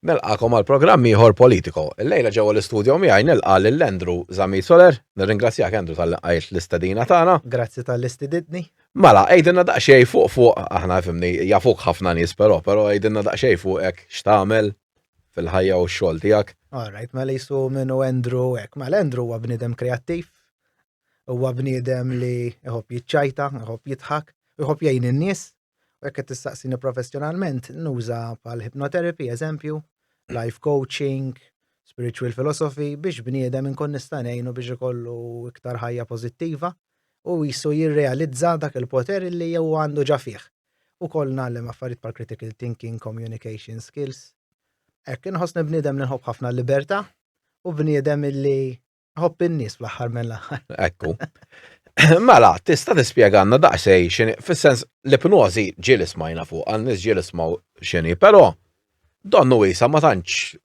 Nilqakom għal programm ieħor politiko. Illejla ġewwa l-istudio miegħi nilqa' lil Andrew Zamit Soler. Nirringrazzjak Andrew tal qajt l-istedina tagħna. Grazzi tal-istididni. Mela, għidilna daqsxejn fuq fuq aħna fimni jafuk ħafna nies però, però għidilna daqsxejn fuqek x'tagħmel fil-ħajja u x-xogħol tiegħek. All right, mela jisu minnu Andrew hekk. Mela Andrew huwa bniedem kreattiv, huwa bniedem li jħobb jiċċajta, jħobb jidħak, jħobb jgħin in-nies, U jekk qed tistaqsini professjonalment, nuża bħal hypnotherapy, eżempju, life coaching, spiritual philosophy biex bniedem inkun nista' ngħinu biex ikollu iktar ħajja pożittiva u jisu jirrealizza dak il-poter li jew għandu ġa fih. U koll nagħlem affarijiet bħal critical thinking, communication skills. Hekk inħossni bniedem li nħobb ħafna l-libertà u bniedem illi Hopp in-nies fl-aħħar mill-aħħar. Ekku. Mela, tista' tispjegalna daqsej xini, fis-sens li pnozi ġieli smajna fuq, għal nies ġieli smaw xini, però donnu wisa ma tantx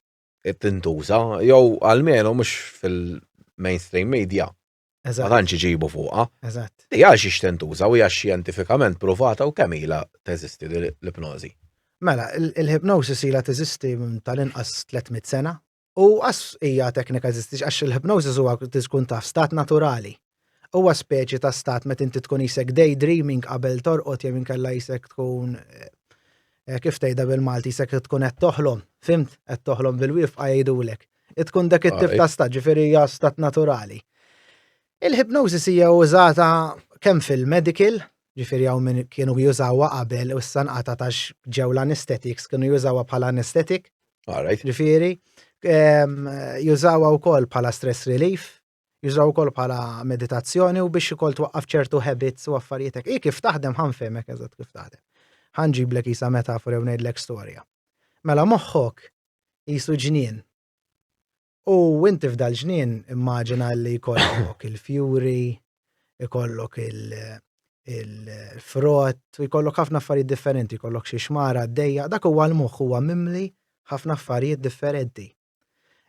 tintuża, jew għalmenu mhux fil-mainstream media. Ma tantx iġibu fuqha. Eżatt. Di għal xiex tintuża u hija xjentifikament provata u kemm ilha teżisti l-ipnożi. Mela, il-hipnosis ilha teżisti tal-inqas 300 sena U għas hija teknika eżistix għax il-hypnosis huwa tkun taf stat naturali. Huwa speċi ta' stat meta inti tkun isek daydreaming qabel torqod jew inkella isek tkun eh, eh, kif tgħidha bil-Malti isek tkun qed toħlom, fimt qed toħlom bil-wifqa jgħidulek. Itkun dak it-tip ah, ta' stat, ġifieri hija stat naturali. Il-hypnosis hija użata kemm fil-medical, ġifieri hawn minn kienu jużawha qabel u s-sanqata tax ġew l-anesthetics kienu jużawha bħala anesthetic All right. Ġifieri, ehm, jużawha wkoll bħala stress relief, jużaw ukoll bħala meditazzjoni u biex ukoll twaqqaf ċertu habits u affarijiet hekk. I kif taħdem ħanfemek eżatt kif taħdem. Ħanġiblek isa metafora u ngħidlek storja. Mela moħħok jisu ġnien. U inti f'dal ġnien immaġina li jkollok il-fjuri, jkollok il-frott, u jkollok ħafna affarijiet differenti, jkollok xi xmara għaddejja, dak huwa l-moħħ huwa mimli ħafna affarijiet differenti.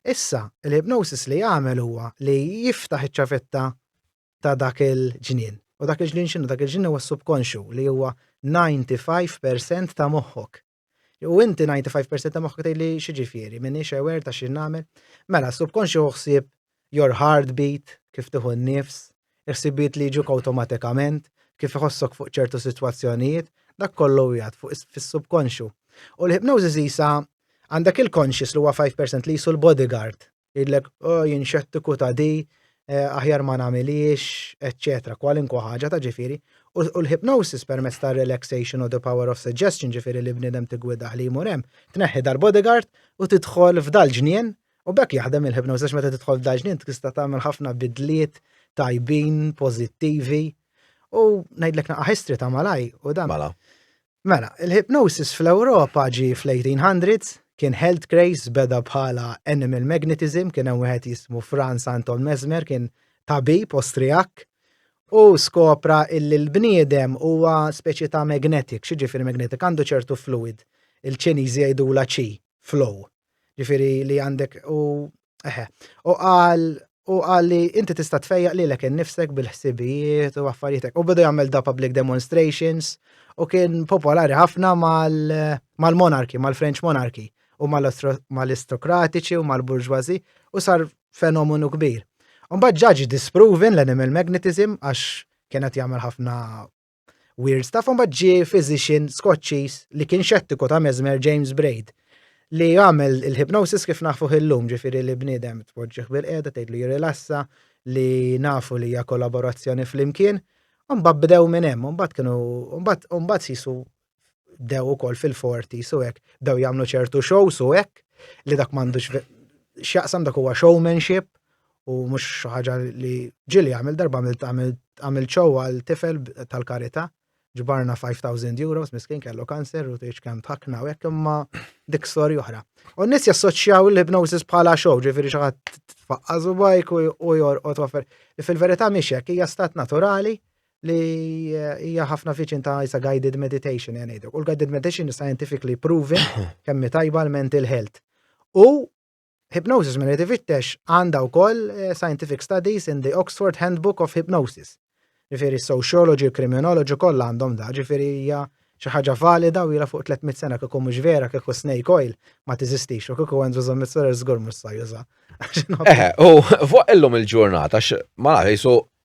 Issa, l-hypnosis li jagħmel huwa li jiftaħ iċ-ċavetta ta' dak il-ġnien. U dak il-ġnien xinu, dak il-ġnien huwa subkonxu li huwa 95% ta' moħħok. U inti 95% ta' moħħok tgħid li xi ġifieri, m'iniex aware ta' xi nagħmel. Mela, subkonxju ħsieb your heartbeat, kif tieħu n-nifs, ħsibiet li jiġuk awtomatikament, kif iħossok fuq ċertu sitwazzjonijiet, dak kollu jgħad fuq fis-subkonxju. U l-hypnosis isa għandek il-conscious li huwa 5% li jisu l-bodyguard Jidlek, oh, jien xettiku ta' di, eh, aħjar ma nagħmiliex, eċċetera, kwalinkwa ħaġa ta' ġifieri. U l-hypnosis permezz ta' relaxation u the power of suggestion ġifieri li bniedem tigwidah li jmur hemm, tneħħi dal-bodyguard u tidħol f'dal-ġnien u bekk jaħdem il-hypnosis meta tidħol f'dal-ġnien tista' tagħmel ħafna bidliet tajbin, pożittivi. U ngħidlek naqa' history ta' malaj u dan. Mela. Mela, il-hypnosis fl-Ewropa ġi fl-1800s, kien health craze beda bħala animal magnetism, kien hemm wieħed jismu Franz Anton Mesmer, kien tabib Ostrijak, u skopra illi l-bniedem huwa speċi ta' magnetic, xi ġifieri magnetic għandu ċertu fluid, il-Ċiniżi jgħidula qi, flow. Ġifieri li għandek u Eħe, u qal u qal li inti tista' tfejjaq lilek innifsek bil-ħsibijiet u affarijietek. U beda jagħmel da public demonstrations u kien popolari ħafna mal-monarki, mal-French monarki u mal-aristokratiċi u mal-burġwazi u sar fenomenu kbir. Mbagħad ġaġi disproven l-animal magnetism għax kienet jagħmel ħafna Weird Stuff mbagħad ġie physician Skoċċiż li kien xettiku ta' Mesmer James Braid li għamel il-hypnosis kif nafu illum ġifieri li bniedem tpoġġih bil-qiegħda tgħidlu jirrilassa li nafu li hija kollaborazzjoni flimkien. Mbagħad bdew minn hemm, mbagħad kienu mbagħad mbagħad sisu bdew ukoll fil-forti su hekk, bdew jagħmlu ċertu show su hekk li dak m'għandux x'jaqsam dak huwa showmanship u mhux xi ħaġa li ġili għamil darba għamil show għal tifel tal-karità ġbarna 5000 euros miskin kellu kanser u tgħix kemm tħakna u hekk imma dik storja oħra. U n-nies jassoċjaw l-hypnosis bħala show, ġifieri xi ħadd tfaqqażu bajk u jorqod offer. Fil-verità mhix hekk hija stat naturali li hija ħafna viċin ta' isa guided meditation jgħan ngħidlek. U l-guided meditation is scientifically proven kemm tajba l-mental health. U hypnosis minn qed ifittex għandha wkoll eh, scientific studies in the Oxford Handbook of Hypnosis. Ġifieri sociology, criminology kollha għandhom da, ġifieri hija xi ħaġa valida u jila fuq 300 sena kieku mhux vera kieku snake oil ma tiżistix u kieku Andrew Zombie Solar żgur mhux sa juża. Eħe, u fuq illum il-ġurnata ma nafx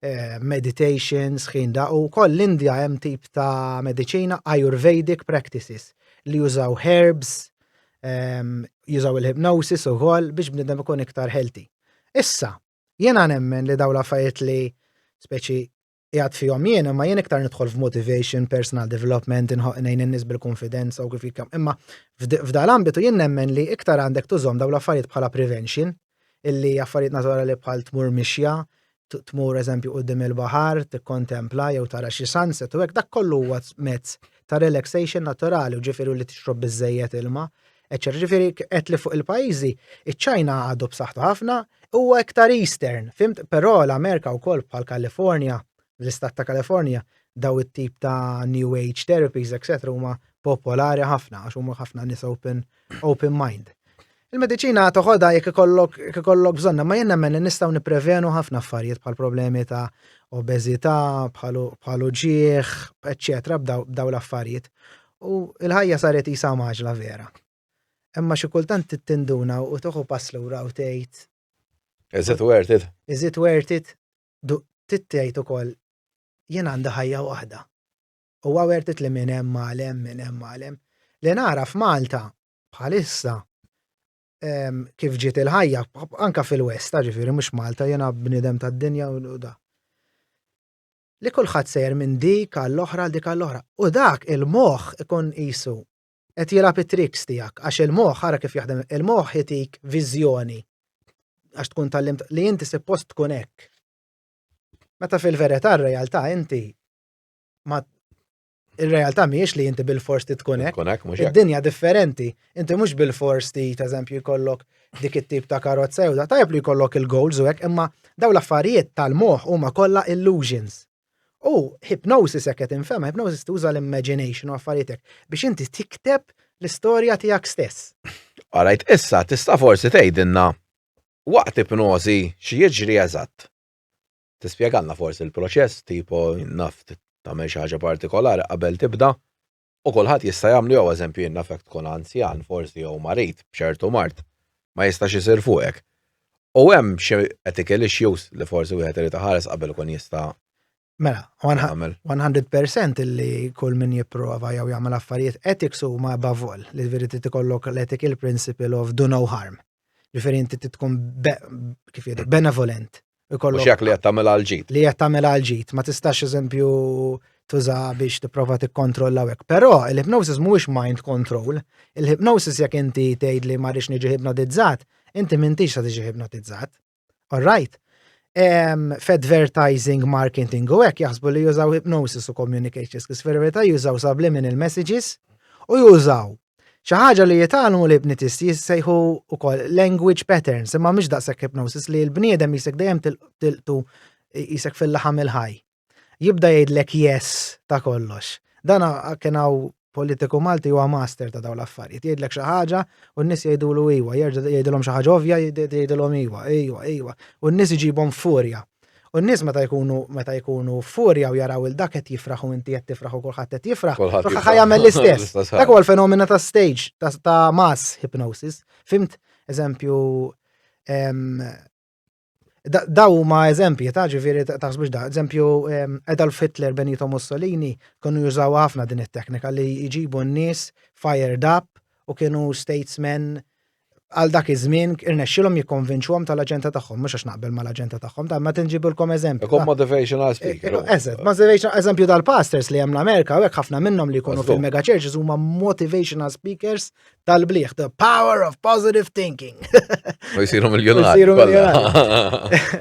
eh, meditation, sħin da, u koll l-Indja hemm tip ta' medicina Ayurvedic practices li jużaw herbs, ehm, jużaw il-hypnosis u koll biex bnidem ikun iktar healthy. Issa, jena nemmen li daw l-affarijiet li speċi jgħat fihom jien, imma jien iktar nidħol f'motivation, personal development, nejn n-nis bil-konfidenza u kif jikam. Imma f'dal-ambitu jien nemmen li iktar għandek tużom daw l-affarijiet bħala prevention, illi affarijiet naturali bħal tmur mixja, tmur eżempju qudiem il-baħar, tikkontempla jew tara xi sunset u hekk dak kollu huwa mezz ta' relaxation naturali u ġifieri li tixrob biżejjed ilma. Eċċer, ġifieri qed li fuq il-pajjiżi, iċ-Ċina għadu b'saħħtu ħafna, huwa iktar eastern, fimt, però l-Amerika wkoll bħal California, l-istat ta' California, daw it-tip ta' new age therapies, etc. huma popolari ħafna għax huma ħafna nies open, open mind. Il-mediċina toħodha jekk ikollok jekk ikollok bżonna, ma jien nemmen li nistgħu nipprevenu ħafna affarijiet bħal problemi ta' obeżità, bħal uġieħ, eċċetera, b'daw l-affarijiet. U l-ħajja saret isa maġla vera. Imma xi kultant tinduna u toħu pass lura u tgħid. Is it worth it? Is it worth it? Tittejt ukoll jien għandi ħajja waħda. U għawertit li minn hemm għalem, minn hemm għalem. Li nara f'Malta bħalissa kif ġiet il-ħajja, anka fil-West, ġifiri, mux Malta, jena bnidem ta' dinja u da. Li kullħat sejr minn dik għall-oħra, dik għall-oħra. U dak il-moħ ikun jisu, et jela it-triks tijak, għax il-moħ, għara kif jaħdem, il-moħ jitik vizjoni, għax tkun tal-lim, li jinti post tkun ek. Meta fil-verita r-realtà inti ma Ir-realtà mhijiex li inti bil-fors tkun hekk. Id-dinja differenti. Inti mhux bil-fors ti eżempju jkollok dik it-tip ta' karozza jew da tajb li jkollok il-goals u hekk imma daw l-affarijiet tal-moħħ huma kollha illusions. U hypnosis hekk qed infhem, hypnosis tuża l-imagination u affarijiet hekk biex inti tikteb l-istorja tiegħek stess. Alright, issa tista' forsi tgħidilna waqt ipnożi xi jiġri eżatt. Tispjegalna forsi l-proċess tipo naf tagħmel xi ħaġa partikolari qabel tibda u kulħadd jista' jagħmlu jew eżempju jien nafek tkun anzjan forsi jew marid b'ċertu mard ma jistax isir fuqek. U hemm xi ethical issues li forsi wieħed irid iħares qabel ikun jista' Mela, 100% illi kull min jipprova jew jagħmel affarijiet ethics huma above all, li veri trid ikollok l-ethical principle of do no harm. Ġifieri inti tkun kif jgħidu benevolent. Mhux jekk li qed tagħmel għal ġid. Li qed tagħmel għal ġid, ma tistax eżempju tuża biex tipprova tikkontrolla hekk. Però il-hypnosis mhuwiex mind control. Il-hypnosis jekk inti tgħid li ma rridx niġi hypnotizzat, inti m'intix sa tiġi hypnotizzat. All right? Um, F'advertising, marketing u hekk jaħsbu li jużaw hypnosis u communication skills, fil-verità jużaw subliminal messages u jużaw xi ħaġa li jitalmu li bnitisti jissejħu ukoll language patterns, imma mhux daqshekk hypnosis li l-bniedem jisek dejjem tilqtu jisek fil-laħam il-ħaj. jibda jgħidlek yes ta' kollox. Dan kien hawn politiku Malti huwa master ta' daw l-affarijiet. Jgħidlek xi ħaġa u n-nies jgħidulu iwa, jerġa' jgħidilhom xi ħaġa ovvja jgħidilhom iwa, iwa, iwa. U n-nies iġibhom furja. U n-nies meta jkunu meta jkunu furja u jaraw il dak qed jifraħ u inti qed tifraħ u kulħadd qed jifraħ, kulħadd jagħmel l-istess. Dak huwa l-fenomena ta' stage ta' mass hypnosis. Fimt eżempju Daw huma eżempji ta' ġifieri taħsbux da, eżempju Adolf Hitler Benito Mussolini kienu jużaw ħafna din it-teknika li jġibu n-nies fired up u kienu statesmen għal dak iż-żmien irnexxilhom jikkonvinċuhom tal-aġenda tagħhom, mhux għax naqbel mal-aġenda tagħhom, ta' ma tinġibilkom eżempju. Ikun motivational speaker. Eżatt, motivational eżempju tal-pastors li hemm l-Amerika, hekk ħafna minnhom li jkunu fil-mega churches huma motivational speakers tal-bliħ, the power of positive thinking. U jisiru miljonari. Jisiru miljonari.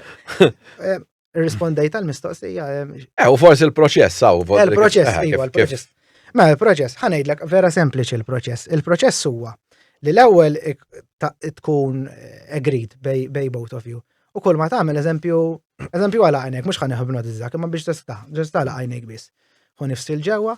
Eh, Rispondej tal-mistoqsija. Eh, eh, u forsi il-proċess, saw. Eh, il-proċess, eh, iwa, il-proċess. Ma il-proċess, ħanejdlek vera sempliċi il-proċess. Il-proċess huwa li l-ewwel tkun agreed bej both of you. U kull ma tagħmel eżempju, eżempju għala għajnek, mhux ħaneħu b'nod iżdak, imma biex tista' ġesta għala għajnek biss. Hu nifsil ġewwa,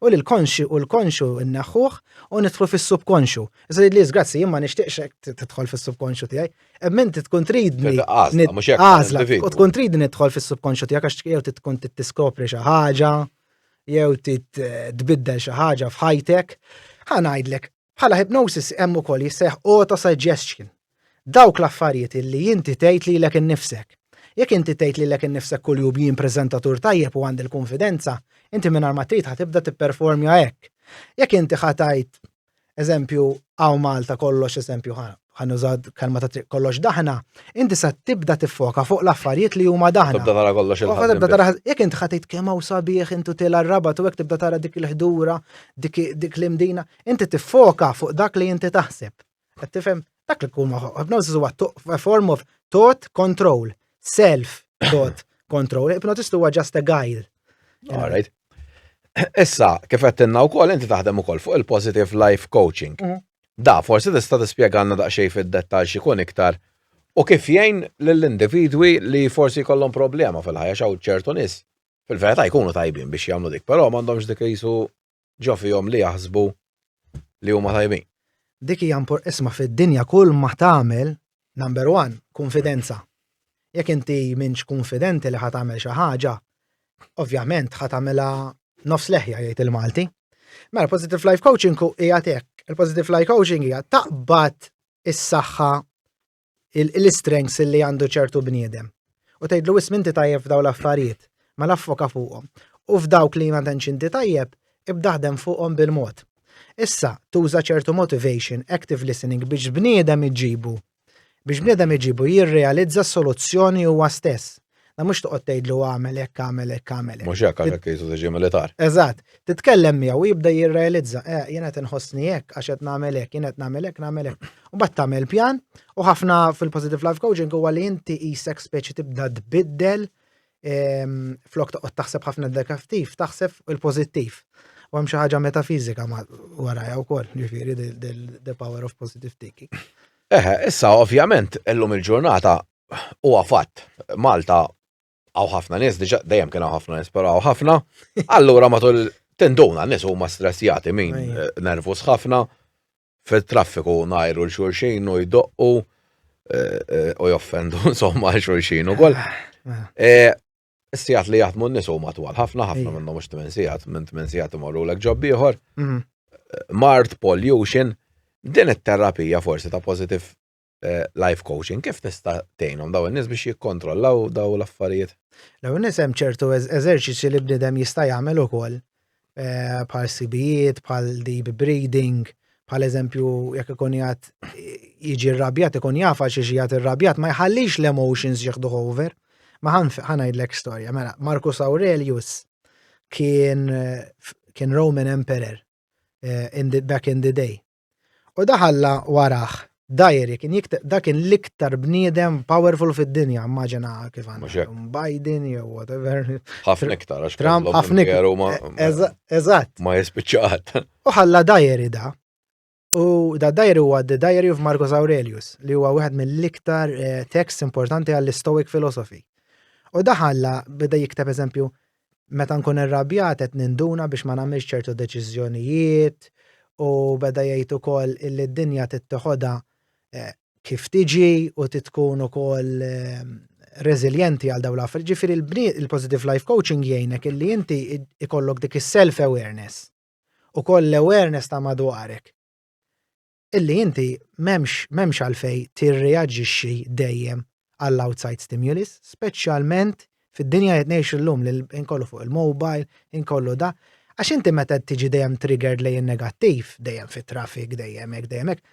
u li l-konxi u l-konxu nneħħuh u nidħlu fis-subkonxu. Iżda li grazzi, jien ma nixtieqx tidħol fis-subkonxu tiegħi. Hemm inti tkun tridni. Għażla, u tkun tridni nidħol fis-subkonxu tiegħek għax jew tkun tiskopri xi ħaġa, jew tbiddel xi ħaġa f'ħajtek. Ħa ngħidlek, Bħala hypnosis hemm ukoll jissejjaħ autosuggestion. Dawk l-affarijiet illi inti tgħid lilek innifsek. Jekk inti tgħid lilek innifsek kuljum jien preżentatur tajjeb u għandi l-kunfidenza, inti mingħajr ma trid ħa tibda tipperformja hekk. Jekk inti ħa tgħid, eżempju, hawn Malta kollox eżempju ħa bħal nuża kelma ta' triq kollox daħna, inti sa tibda tiffoka fuq l-affarijiet li huma daħna. Tibda tara kollox il Tibda tara jekk int ħadd kemm hawn sabiħ intu tela rabat u hekk tibda tara dik il-ħdura, dik dik l-imdina, inti tiffoka fuq dak li inti taħseb. Qed tifhem dak li tkun hypnosis huwa a form of thought control, self thought control. Hypnotist huwa just a guide. All right. Issa, kif qed tinna wkoll inti taħdem ukoll fuq il-positive life coaching. Mm. Da, forsi tista' tispjegalna daqsxejn fid-dettall x'ikun iktar u kif jgħin lill-individwi li forsi jkollhom problema fil-ħajja x'hawn ċertu nies fil-verità jkunu tajbin biex jagħmlu dik, però m'għandhomx dik jisu ġo fihom li jaħsbu li huma tajbin. Dik hija impor isma' fid-dinja kull ma tagħmel, number one, kunfidenza. Jekk inti minx kunfidenti li ħadd tagħmel xi ħaġa, ovvjament ħadd tagħmilha nofs leħja jgħid il-Malti. Mela positive life coaching hija tek. Il-positive life coaching hija taqbad is-saħħa l-istrengths li għandu ċertu bniedem. U tgħidlu ism inti tajjeb f'daw l-affarijiet, ma mela affoka fuqhom. U f'dawk li ma tantx inti tajjeb, ibdaħdem fuqhom bil-mod. Issa, tuża ċertu motivation, active listening biex bniedem iġibu. Biex bniedem iġibu jirrealizza soluzzjoni huwa stess. La mhux toqgħod tgħidlu għamel hekk, għamel hekk, għamel hekk. Mhux hekk għalhekk jisu tiġi militar. Eżatt. Titkellem miegħu jibda jirrealizza, eh, jien qed inħossni hekk għax qed nagħmel hekk, jien qed nagħmel hekk, nagħmel hekk. U bad tagħmel pjan u ħafna fil-positive life coaching huwa li inti isek speċi tibda tbiddel ehm, flok toqgħod taħseb ħafna negativ, taħseb il-pożittiv. U hemm xi ħaġa metafizika warajja wkoll, ġifieri the power of positive thinking. Eħe, issa ovvjament illum il-ġurnata huwa fatt, Malta għaw ħafna nies, diġa dejjem kien ħafna nies, però għaw ħafna. Allura matul tenduna nies huma stressjati min eh, nervus ħafna fit-traffiku najru l-xurxin u jdoqqu eh, eh, u joffendu insomma l-xurxin u koll. Ah, ah. Sijat li jaħdmu n-nis u matwal, ħafna ħafna minnu mux 8 sijat, minn 8 sijat imorru l-ek ġob ieħor. Mhm. Mart, pollution, din it-terapija forsi ta' positive eh, life coaching, kif tista' tgħinhom daw in-nies biex jikkontrollaw daw l-affarijiet? Law in-nies hemm ċertu eżerċizzji li bniedem jista' jagħmel ukoll eh, bħal sibijiet, bħal deep breathing, bħal eżempju jekk ikun jgħat jiġi rrabjat ikun jafa xi xi jgħat irrabjat ma jħallix l-emotions jieħdu over. Ma ħanajdlek storja, mela Marcus Aurelius kien kien Roman Emperor eh, in the, back in the day. U daħalla warah. Dajeri kien jikteb dak kien l-iktar bniedem powerful fid-dinja, immaġina kif għandhom Biden jew whatever. Ħafna iktar għax Trump ħafna iktar. Eżatt. Ma jispiċċat. U ħalla dajeri da. U da dajeri huwa The Diary of Marcus Aurelius li huwa wieħed mill-iktar eh, tekst importanti għall-Stoic philosophy. U daħalla beda jikteb eżempju Meta nkun irrabjat qed ninduna biex ma nagħmilx ċertu deċiżjonijiet u beda jgħid ukoll illi d-dinja trid teħodha kif tiġi u trid tkun ukoll reżiljenti għal dawn l-affarijiet. Ġifieri il-positive life coaching jgħinek illi inti ikollok dik is-self awareness u koll l-awareness ta' madwarek. illi inti m'hemmx għalfejn tirreaġixxi dejjem għall-outside stimulus, speċjalment fid-dinja qed ngħixu llum li inkollu fuq il-mobile, inkollu da. Għax inti meta tiġi dejjem triggered lejn negattiv, dejjem fit-traffic, dejjem hekk, dejjem hekk,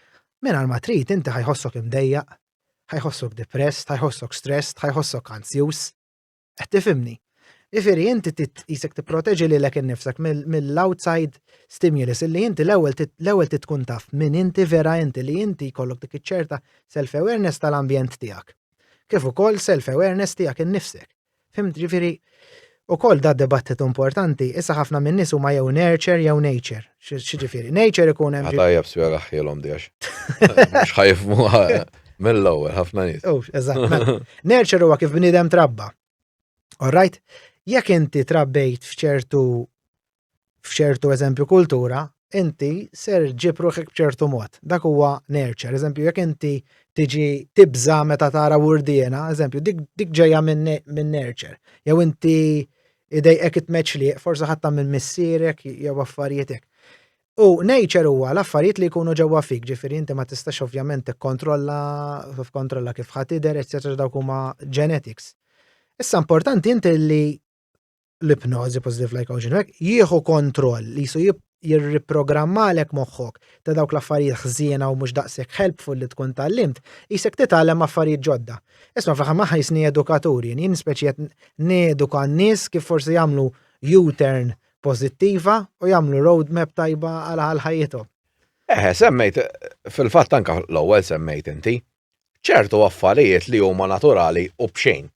mingħajr ma trid inti ħajħossok imdejjaq, ħajħossok depressed, ħajħossok stressed, ħajħossok anzjuż. Qed tifhimni? Jifieri inti titqisek tipproteġi lilek innifsek mill-outside stimulus illi inti l-ewwel titkun taf min inti vera inti li inti jkollok dik iċ-ċerta self-awareness tal-ambjent tiegħek. Kif ukoll self-awareness tiegħek innifsek. Fimt ġifieri ukoll da dibattitu importanti, issa ħafna minn nies huma jew nurture jew nature. X'ġifieri, nature ikun hemm. Ħatajja b'spjega ħjelhom dijax. Mhux ħajfmu mill-ewwel ħafna nies. Oh, eżatt. Mela. Nature huwa kif bniedem trabba. Alright? Jekk inti trabbejt f'ċertu f'ċertu eżempju kultura, inti ser ġib ruħek b'ċertu mod. Dak huwa nature. Eżempju, jekk inti tiġi tibża meta tara wurdiena, eżempju, dik ġejja minn nature. Jew inti idejqek it-tmeċliq, forsi ħatta minn missierek jew affarijiet hekk. U nature huwa l-affarijiet li jkunu ġewwa fik, ġifieri inti ma tistax ovvjament tikkontrolla kontrolla kif ħadd idher, eċċetera dawk huma genetics. Issa importanti inti li l-ipnożi positive like ocean jieħu kontroll li jisu jirriprogrammalek moħħok ta' dawk l-affarijiet ħżiena u mhux daqshekk helpful li tkun tallimt, qisek titgħallem affarijiet ġodda. Isma' fl-aħħar ma ħajsni edukatur jien, jien speċi qed neduka n-nies kif forsi jagħmlu U-turn pożittiva u jagħmlu roadmap tajba għal ħajjithom. Eh, semmejt, fil-fatt anka l-ewwel semmejt inti, ċertu affarijiet li huma naturali u bxejn.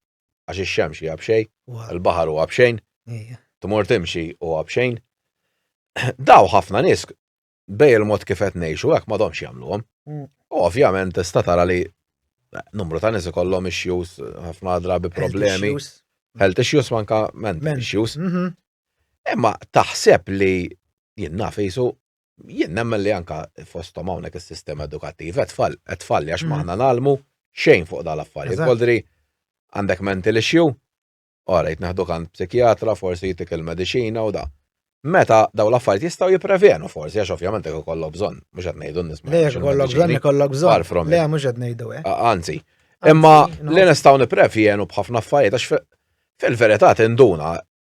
Għax ix-xemx hija b'xejn, il-baħar huwa b'xejn, tmur timxi huwa b'xejn. Daw ħafna nies bej il-mod kif qed ngħixu hekk m'għadhomx jagħmluhom. Mm. U ovvjament tista' tara li numru ta' nies ikollhom issues ħafna drabi problemi. Health issues manka mental issues. Mhm. Imma taħseb li jien naf jisu Jien nemmen li anka fosthom hawnhekk is-sistema edukattiva qed tfall, qed tfalli għax maħna mm. nagħlmu xejn fuq dal affarijiet. Voldri għandek mental issue, ora jitneħdu għand psikjatra, forsi jitik il-mediċina u da. Meta daw l-affarijiet jistgħu jipprevenu forsi għax ovvjament jekk ikollok bżonn, mhux qed ngħidu nisma'. Le jekk ikollok bżonn ikollok bżonn. Le mhux qed ngħidu hekk. Eh. Anzi, imma li nistgħu nipprevjenu b'ħafna affarijiet għax fil-verità tinduna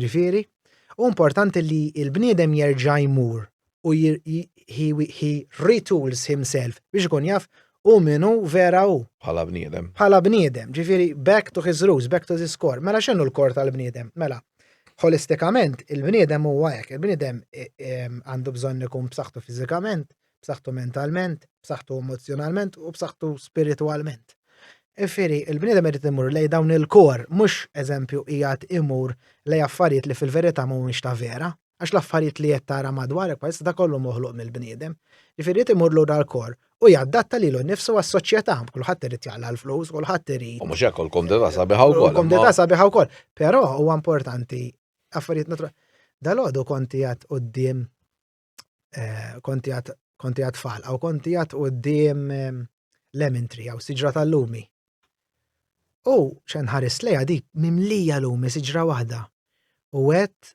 Ġifieri, hu importanti li l-bniedem jerġa' jmur u he retools himself biex ikun jaf u min hu vera hu. Bħala bniedem. Bħala bniedem, ġifieri back to his roots, back to his core. Mela x'inhu l-kor tal-bniedem? Mela, holistikament il-bniedem huwa hekk, il-bniedem għandu bżonn ikun b'saħħtu fiżikament, b'saħħtu mentalment, b'saħħtu emozzjonalment u b'saħħtu spiritwalment. Ifieri, il-bniedem irid imur lej dawn il-kor, mhux eżempju qiegħed imur lej affarijiet li fil-verità mhumiex ta' vera, għax l-affarijiet li qed tara madwarek bħalissa ta' kollu moħluq mill-bniedem. Ifieri imur lura l-kor u jaddatta lilu nnifsu għas-soċjetà, kulħadd irid jaqla l-flus, kulħadd irid. U mhux hekk u l-kumdità sabiħa wkoll. U l-kumdità sabiħa wkoll. Però huwa importanti affarijiet naturali. Dalodu konti għad qudiem eh, konti għat tfal, għaw konti għat u d-dim eh, lemon tree, għaw siġra tal-lumi. U xen ħaris leja di mimlija lumi siġra wahda. U għet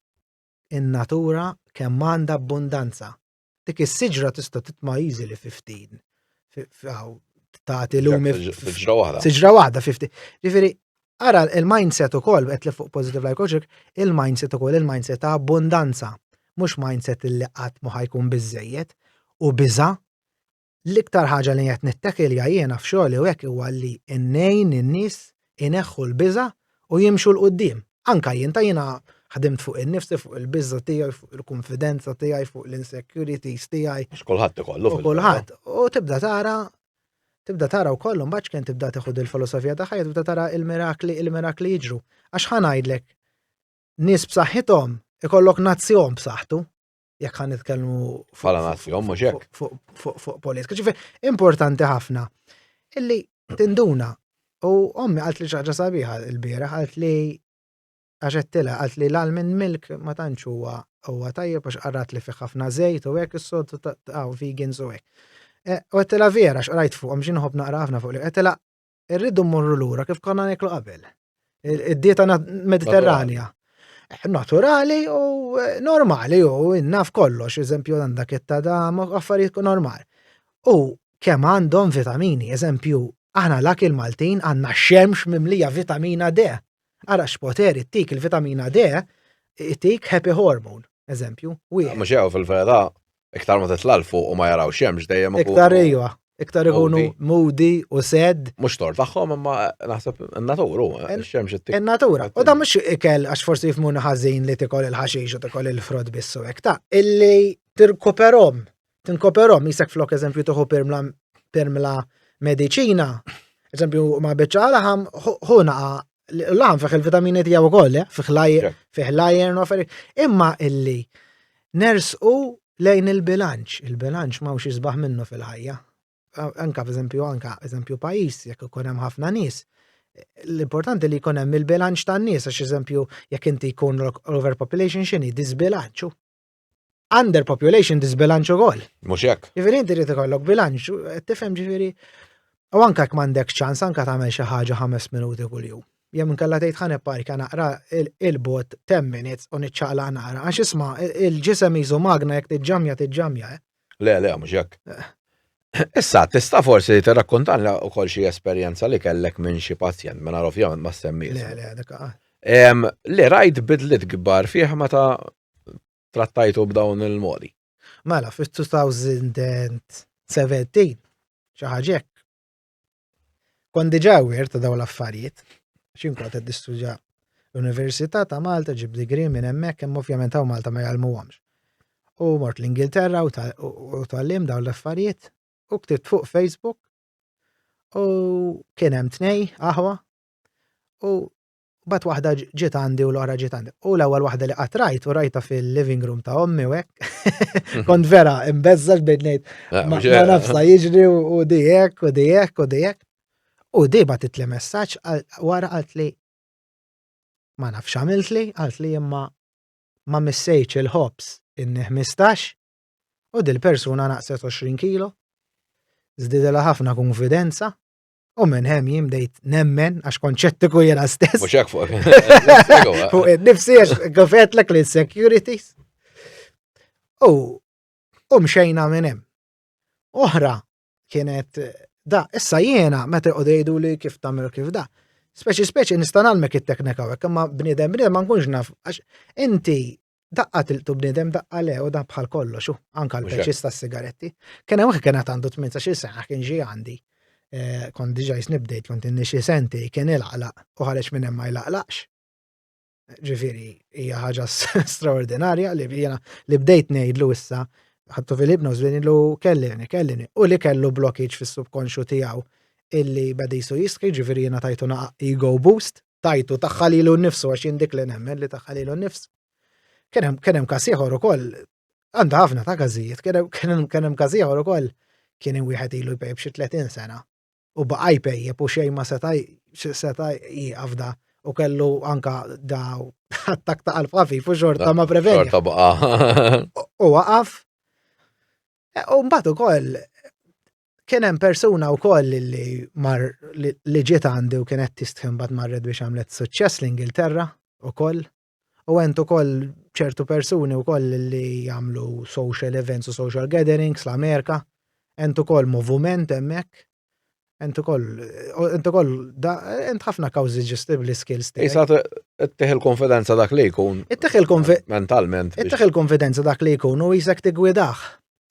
in-natura kemm għandha abbundanza. Dik is-siġra tista' titma' easily 15. Tagħti lumi siġra waħda. Siġra waħda 50. Ġifieri Ara il-mindset ukoll qed li fuq positive life coaching, il-mindset ukoll il-mindset ta' abbundanza, mhux mindset li qatt ma ħajkun biżejjed u biża' l-iktar ħaġa li qed nittakilja jiena f'xogħli u hekk huwa li nnejn in-nies ineħħu l-biża' u jimxu l quddiem. Anka jien ta' jiena ħdimt fuq in-nifsi, fuq il-biża' tiegħi, fuq il-kunfidenza tiegħi, fuq l-insecurities tiegħi. X'kulħadd ikollu. Kulħadd. U tibda tara Tibda tara wkoll imbagħad x'kien tibda tieħu dil-filosofija ta' ħajja tibda tara il-mirakli il-mirakli jiġru. Għax ħa ngħidlek nies b'saħħithom ikollok nazzjon b'saħħtu jekk ħan nitkellmu fuq nazzjon mhux hekk fuq politika. Ġifi importanti ħafna illi tinduna u ommi qalt li ċaġa sabiħa l-bieraħ qalt li għax għedtilha, qalt li l-almond milk ma tantx huwa huwa tajjeb għax qarat li fih ħafna żejt u hekk is-sod ta' vegans u hekk. E, u għedtilha vera x'qrajt fuqhom xi nħobb naqra ħafna fuq li għedtilha irridu mmorru lura kif konna nieklu qabel. Id-dieta mediterranja. Eh, naturali u eh, normali u innaf kollox, eżempju għandak it-tada affarijiet normali. U kemm għandhom vitamini, eżempju, aħna l-akil Maltin għandna xemx mimlija vitamina D. Ara x'poter ittik il-vitamina D, ittik happy hormone, eżempju, wieħed. Mhux jew fil-vera, iktar ma titla' l fuq u ma jaraw xemx dejjem ikun. Iktar ejwa, iktar ikunu moody u sad. Mhux tor tagħhom imma naħseb in-natur hu, ix-xemx ittik. In-natura. U dan mhux ikel għax forsi jifhmuna ħażin li tikol il-ħaxix u tikol il-frott biss u hekk ta'. Illi tirkuperhom tinkoperhom jisek flok eżempju toħu permla permla mediċina, eżempju ma beċċa laħam hu naqa laħam fih il-vitamini tiegħu wkoll, eh? fih lajr, fih lajr, imma illi nersqu lejn il-bilanċ, il-bilanċ ma mhux jisbaħ minnu fil-ħajja. Anka f'eżempju, anka eżempju pajis, jekk ikun hemm ħafna nies, l-importanti li jkun hemm il-bilanċ tan-nies, għax eżempju, jekk inti jkun overpopulation xini, disbilanċu. under population disbilanċ ukoll. Mhux hekk. Jiġifieri inti trid ikollok bilanċ, tifhem ġifieri. U anke jekk m'għandek ċans anke tagħmel xi ħaġa ħames minuti kuljum. Jew inkella tgħid ħane parka naqra il-bot 10 minutes u niċċaqla naqra għax isma' il-ġisem jiżu magna jekk tiġġamja tiġġamja. Eh. Le, le, mhux hekk. Eh. Issa, tista' forsi tirrakkontanna wkoll xi esperjenza li kellek minn xi pazjent, minn ovvjament ma semmi. Le, le, dak Le, rajt bidlit kbar fih meta trattajtu b'dawn il-modi. Mela, fil-2017, xaħġek, kon diġa għir ta' dawn l-affarijiet, xin kont għed nistudja l-Università ta' Malta ġib digri minn hemmhekk hemm ovvjament hawn Malta ma jgħallmuhomx. U mort l-Ingilterra u tal-lim dawn l-affarijiet u ktibt fuq Facebook u kien hemm tnej aħwa u Mbagħad waħda ġiet għandi u l-oħra ġiet għandi. U l-ewwel waħda li qatt rajt u rajta fil-living room ta' ommi u hekk. Kont vera imbeżżax bejn ngħid ah, ma nafsa jiġri u di hekk u di hekk u di hekk. U di batit li messaġġ wara qalt li ma nafx għamilt li, qalt li imma ma missejċ il-ħobs inni 15 u dil-persuna naqset 20 kilo. Zdidela ħafna konfidenza U minn hemm jien bdejt nemmen għax konċettiku jena stess. Mhux hekk fuq. Fuq nifsi għax għafetlek li securities. U u mxejna minn hemm. Oħra kienet da, issa jiena meta jqogħdu jgħidu li kif tagħmel kif da. Speċi speċi nista' nagħlmek it-teknika hekk imma bniedem bniedem ma nkunx naf għax inti Daqqa tilqtu bniedem daqqa le u dan bħal kollox, u anka l-peċis ta' sigaretti. Kien hemm kien qed għandu 18 sena kien ġi għandi. Eh, kont diġà jisnibdejt kont inni xi senti kien ilaqlaq u ħareġ minn hemm ma jlaqlaqx. Ġifieri hija ħaġa straordinarja li jiena li bdejt ngħidlu issa ħattu fil-ibnos li ngħidlu kellini, kellini, u li kellu blokkiġ fis-subkonxu tiegħu illi badisu jiski, ġifieri jiena tajtu ego boost tajtu tagħha lilu nnifsu għax jien dik li nemmen li tagħha lilu nnifsu. Kien hemm kien hemm każ ieħor ukoll għandha ħafna ta' każijiet, kien hemm każ ieħor ukoll kien hemm wieħed ilu jpejb xi 30 sena u baqa' jpejjeb u xejn ma seta' seta' jieqaf da u kellu anka da attak ta' qalb ħafif u xorta ma preveni. Xorta baqa. U waqaf. E, u mbagħad ukoll Kien hemm persuna wkoll li mar li ġiet għandi u kienet tistħin bad marret biex għamlet suċċess l-Ingilterra ukoll. U għent ukoll ċertu persuni wkoll li jagħmlu social events u social gatherings l-Amerika. Għent ukoll moviment hemmhekk. Għent ukoll għent ukoll għent ħafna kawżi ġestibli skills tiegħek. Isa tteħ il-konfidenza dak li jkun. Itteħ il-konfidenza. Mentalment. Itteħ il-konfidenza dak li jkun u jisek tigwidaħ.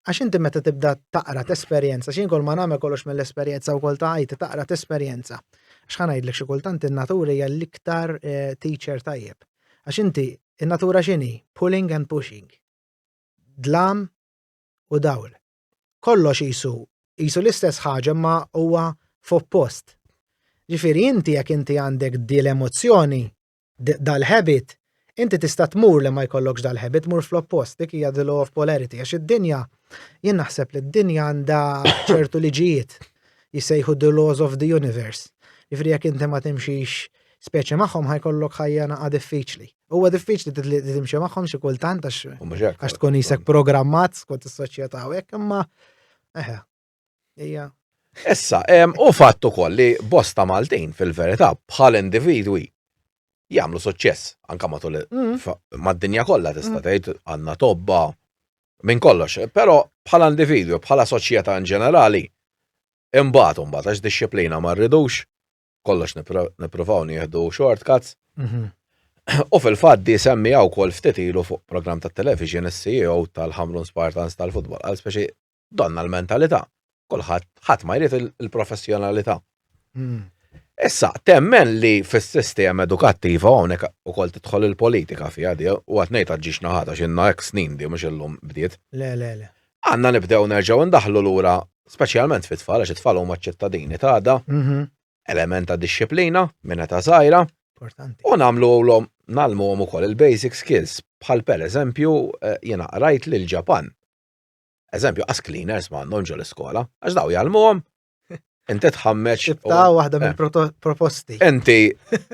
Għax inti meta tibda taqra tesperjenza, xi kol ma nagħmel kollox mill-esperjenza wkoll ta' ħajti taqra tesperjenza. Għax ħa ngħidlek xi kultant in-natura hija l-iktar eh, teacher tajjeb. Għax inti in-natura x'inhi? Pulling and pushing. Dlam u dawl. Kollox jisu, jisu l-istess ħaġa ma huwa f'oppost. Ġifieri inti jekk inti għandek di l-emozzjoni, dal-habit, inti tista' tmur li ma jkollokx dal-habit, tmur fl-oppost, dik hija the law of polarity, għax id-dinja, jien naħseb li d-dinja għandha ċertu liġijiet jissejħu the laws of the universe. Ġifri jekk inti ma timxix speċi magħhom ħajkollok ħajja naqa' diffiċli. Huwa diffiċli li timxi magħhom xi kultant għax tkun isek programmat skont is-soċjetà hekk imma eħe. Ija. Issa, u fatt ukoll li bosta Maltin fil-verità bħal individwi jagħmlu suċċess anka matul mm. mad-dinja kollha tista' mm. tgħid għandna tobba minn kollox, però bħala individwi, bħala soċjetà in ġenerali, imbagħad imbagħad għax disċiplina ma rridux kollox nippruvaw nieħdu shortcuts. Mhm. U fil-fatt di semmi għaw kol ftit ilu fuq program ta' television is-CEO tal-Hamlin Spartans tal-futbol, għal speċi Donna l-mentalità. Kulħadd ħadd ma jrid il-professjonalità. Hmm. Issa, temmen li fis-sistema edukattiva hawnhekk ukoll tidħol il-politika fiha di, u qed ngħid ġiex naħata x'inna hekk snin di mhux illum bdiet. Le, le, le. Għandna nibdew nerġgħu ndaħlu lura, speċjalment fit-tfal għax it-tfal huma ċittadini ta' għada, mhm. element ta' disċiplina minn ta' żgħira. Importanti. U nagħmlu għolhom nagħlmuhom ukoll il-basic skills bħal pereżempju eh, jiena qrajt lil Ġapan. Eżempju, as cleaners m'għandhom ġol iskola għax daw jgħalmuhom. Inti tħammeċ. Xibta waħda mill-proposti. Eh. Inti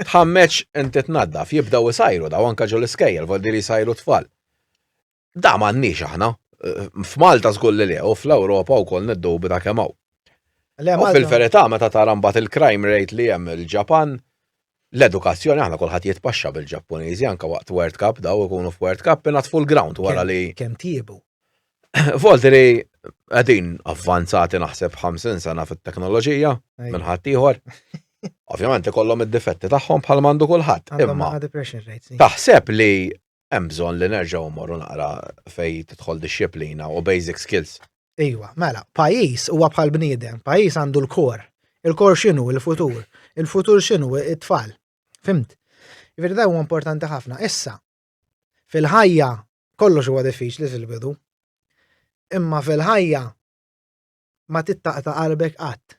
tħammeċ inti tnaddaf, jibdaw isajru daw anka ġol iskejjel, vol diri sajru tfal. Da m'għandniex aħna. Eh, F'Malta żgur li lew, fl-Ewropa wkoll niddubi ta' kemm hawn. Fil-verità meta tara mbagħad il-crime rate li hemm il-Ġapan, L-edukazzjoni aħna kulħadd jitpaxxa bil-Ġappuniżi anke waqt World Cup daw ikunu f'World Cup ingħatfu l-ground wara li. Kemm tjiebu. Voltri qegħdin avvanzati naħseb 50 sena fit-teknoloġija minn ħadd ieħor. Ovvjament ikollhom id-difetti tagħhom bħal mandu kulħadd. Imma taħseb li hemm bżonn li nerġgħu mmorru naqra fej tidħol disċiplina u basic skills. Iwa, mela, pajis huwa bħal bniedem, pajis għandu l-kor. Il-kor xinu, il-futur. Il-futur xinu, it-tfal. Fimt? Ġifieri da huwa importanti ħafna. Issa, fil-ħajja kollox huwa diffiċli fil-bidu. Imma fil-ħajja ma tittaqta qalbek qatt.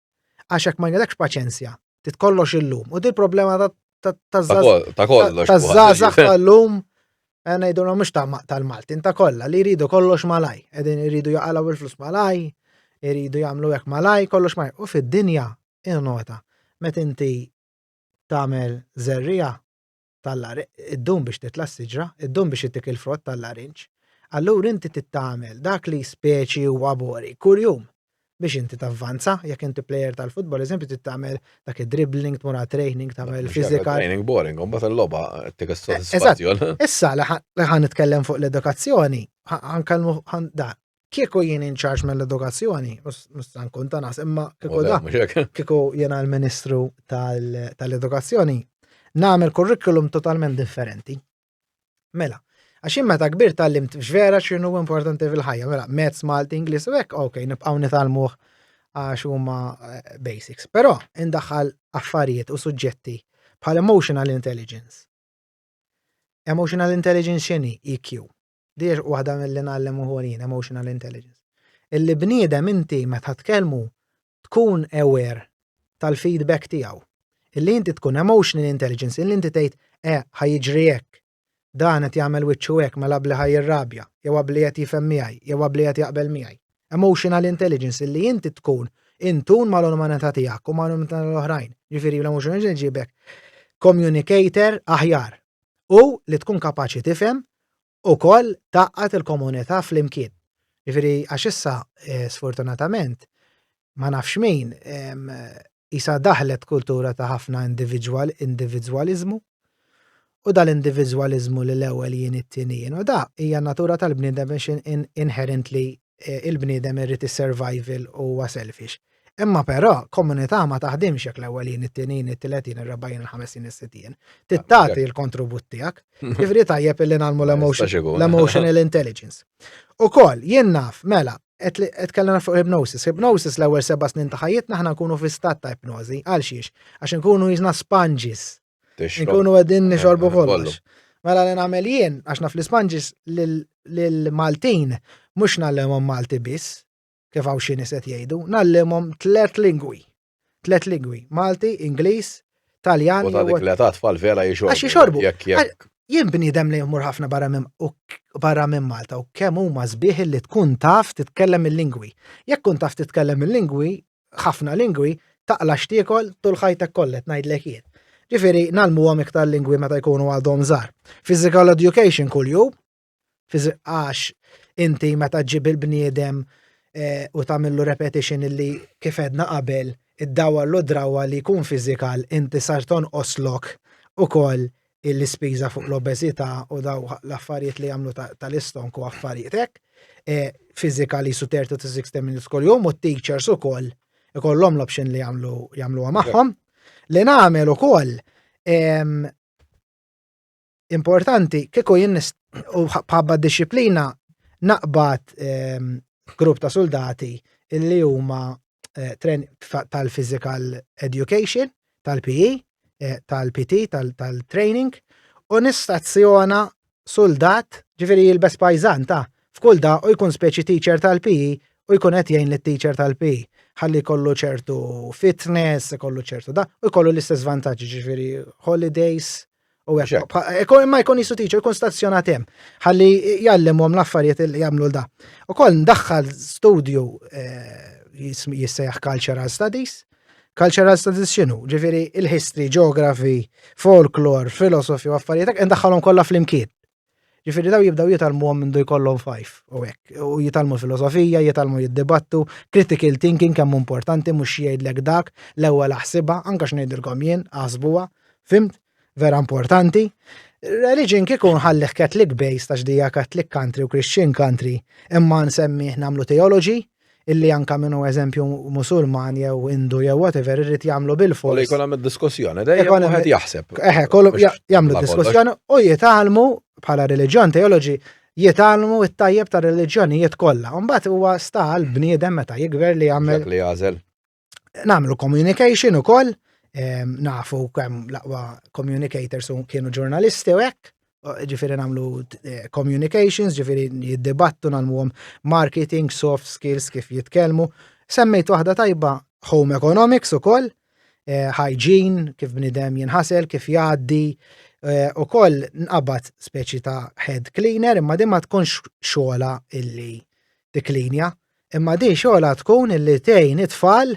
Għax hekk ma jnilekx paċenzja, titkollox illum. U dil problema ta' zazax tal-lum, eh, ngħidu l mhux tal-Maltin ta' kollha li jridu kollox malaj, qegħdin jridu jaqalgħu il-flus malaj, jridu jagħmlu hekk malaj, kollox malaj. U fid-dinja, il-nota, met inti tagħmel zerrija, tal-lar, iddum biex titla' s-siġra, iddum biex ittik il-frott tal-larinġ, allura inti tittamel dak li speċi huwa bori kuljum biex inti tavvanza, jekk inti plejer tal-futbol, eżempju, tittamel dak id-dribbling, tmur training, tagħmel fizika. Training boring, un bat il-loba tik s-soddisfazzjon. Issa li ħan nitkellem fuq l-edukazzjoni, ħan kalmu ħan dan. Kieku jien inċarġ mill-edukazzjoni, mhux se nkun ta' nas, imma kieku da, kieku jiena l-Ministru tal-Edukazzjoni, nagħmel kurrikulum totalment differenti. Mela, għax jien meta kbir tal-limt vera x'inhu importanti fil-ħajja, mela mezz Malti Ingliż u hekk, ok, nibqgħu nitalmuh għax huma eh, basics. Però indaħħal affarijiet u suġġetti bħal emotional intelligence. Emotional intelligence x'inhi EQ. Di waħda mill-li nallem uħolin, emotional intelligence. Illi bniedem inti meta tkellmu tkun aware tal-feedback tiegħu. Illi inti tkun emotional intelligence, illi inti tgħid eh ħajġri hekk. Dan qed jagħmel wiċċu hekk mela bli ħajirrabja, jew qabli qed jifhem miegħi, jew qabli qed jaqbel miegħi. Emotional intelligence illi inti tkun intun mal-umanità tiegħek u mal-umanità l-oħrajn. Ġifieri l-emotional intelligence ġibek communicator aħjar u li tkun kapaċi tifhem ukoll tgħaqqad il-komunità flimkien. Jiġifieri għax issa sfortunatament ma nafx min isa daħlet kultura ta' ħafna individwal individwaliżmu u dal-individwaliżmu li l-ewwel jien it-tieni jien u da hija natura tal-bniedem biex inherently eh, il-bniedem irrid is-survival huwa selfish. Imma però, komunità ma taħdimx jekk l-ewwelin, it-tinin, it-tletin, ir-rebajin, il-ħamesin, is-sittin. Tittati l-kontribut tiegħek. Ġifieri tajjeb illi nagħmlu l-emotional intelligence. U koll, jien naf, mela, qed kellna fuq hypnosis. Hypnosis l-ewwel seba' snin ta' ħajjitna aħna nkunu fi stat ta' ipnożi. Għal xiex? Għax nkunu jiżna sponges Nkunu għedin nixorbu eh, kollox. Mela li nagħmel jien, għax naf l-Ispanġis l-Maltin, mux nallimhom Malti biss, kif għaw xini set jgħidu, nallimhom tlet lingwi. Tlet lingwi, Malti, Ingliż, Taljan. U ta' dik li ta' tfal vera jixorbu. Għax jixorbu. Jien bniedem li jmur ħafna barra minn barra minn Malta u kemm huma sbieħ li tkun taf titkellem il-lingwi. Jekk kun taf titkellem il-lingwi, ħafna lingwi taqla' x'tiekol tul ħajtek kollha qed ngħidlek jien. Ġifieri ngħallmuhom iktar lingwi meta jkunu għadhom żgħar. Physical education kuljum għax inti meta ġib il-bniedem eh, u tagħmillu repetition illi kif edna qabel id-dawa l drawa li jkun fizikal inti sar tonqoslok ukoll l-ispiża fuq l-obeżità u daw l-affarijiet li jagħmlu tal-istonk u affarijiet hekk. E, physically su 30 to 60 minutes kol jum u t-teachers u kol ikollhom l-option li jagħmlu jagħmluha magħhom. Li nagħmel ukoll importanti kieku jien u bħabba disciplina naqbad grupp ta' soldati illi huma eh, tal-physical education, tal-PE, eh, tal-PT, tal-training, u nistazzjona soldat ġifiri jilbes pajzan ta' f'kull da u jkun speċi teacher tal-PE u jkun qed jgħin lit-teacher tal-PE ħalli kollu ċertu fitness, kollu ċertu da, u kollu l-istess vantaġġi ġifiri holidays, U għek, ekon ma jkun jisu teacher, kun stazzjonat hemm, ħalli jallimhom l-affarijiet li jagħmlu da. U koll ndaħħal studju eh, jissejjaħ cultural studies. Cultural studies xinu? Ġifieri il-history, geography, folklore, philosophy u affarijiet, ndaħħalhom kollha flimkien. Ġifiri daw jibdaw jitalmu għom mindu jkollhom fajf u hekk. U jitalmu filosofija, jitalmu jiddibattu, critical thinking kemm importanti mhux jgħidlek dak, l-ewwel aħsibha, anke x'ngħidilkom jien, aħsbuha, fimt? Vera importanti. Religion kieku nħallih Catholic based għax dija Catholic country u Christian country, imma nsemmih nagħmlu theology, illi anka min hu eżempju Musulman jew Indu jew whatever irid jagħmlu bil-fors. Kollu jkun hemm diskussjoni dejjem wieħed jaħseb. Eħe, kollu jagħmlu diskussjoni u jitgħalmu bħala reliġjon teoloġi jitgħalmu it-tajjeb ta' reliġjonijiet kollha. Mbagħad huwa sta għal bniedem meta jikber li jagħmel. Li jagħżel. namlu communication u koll, nafu kem laqwa communicators u kienu ġurnalisti u hekk, ġifiri namlu eh, communications, ġifiri jiddibattu namlu marketing, soft skills, kif jitkelmu. Semmejt waħda tajba home economics u koll, eh, hygiene, kif bnidem jinħasel, kif jaddi, eh, u koll nqabat speċi ta' head cleaner, imma dimma tkunx xola illi tiklinja, Imma din xogħla tkun illi tgħin it-tfal